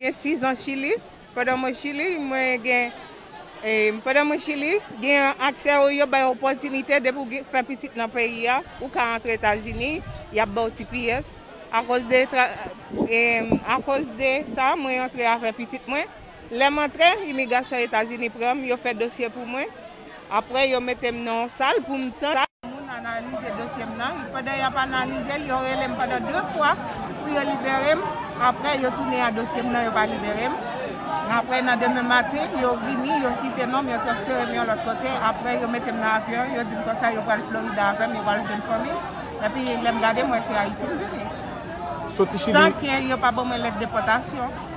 Gen 6 zan Chili, pandan mwen Chili, mwen gen, pandan mwen Chili, gen aksè ou yo bay opòtinite depi ou fè pitit nan peyi a, ou ka antre Etazini, y ap ba w tps. Akoz de, akoz de sa, mwen antre avè pitit mwen. Lè m antre, imigasyon Etazini pran m, yo fè dosye pou mwen. Apre yo mete m nan yon sal pou m tann moun analize dosye m nan, pandan y ap analize l yo rele m pandan 2 fwa pou yo libere m, apre yo tounen a dosye m nan yo pa libere m, apre nan demen maten yo vini yo site non m yo transfere m yon lòt kote, apre yo mete m nan avyon yo di m konsa yo pral Florida avè m yo pral jwenn fanmi m, epi lè m gade m wè se Ayiti m vini, san ke yo pa ban mwen lèt depòtasyon.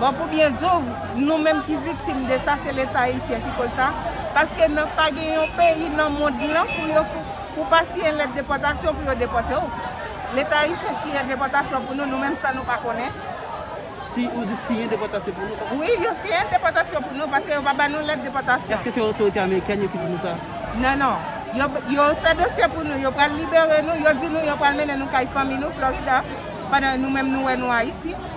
Bon pou byen di w, nou menm ki viktim de sa se leta ayisyen ki koz sa, paske nan pa gen yon peyi nan mond lan pou yo pou w pa siyen lèt depòtasyon pou yo depòte w. Leta ayisyen siyen depòtasyon pou nou, nou menm san nou pa konnen. Si, ou di siyen depòtasyon pou nou? Wi, yo siyen depòtasyon pou nou, paske yo pa ba nou lèt depòtasyon. Eske se otorite amerikèn yo ki di nou sa? Non, non. Yo, yo fè dosye pou nou, yo pral libere nou, yo di nou yo pral mennen nou kay fanmi nou, Florida, pandan nou menm nou wè nou Ayiti.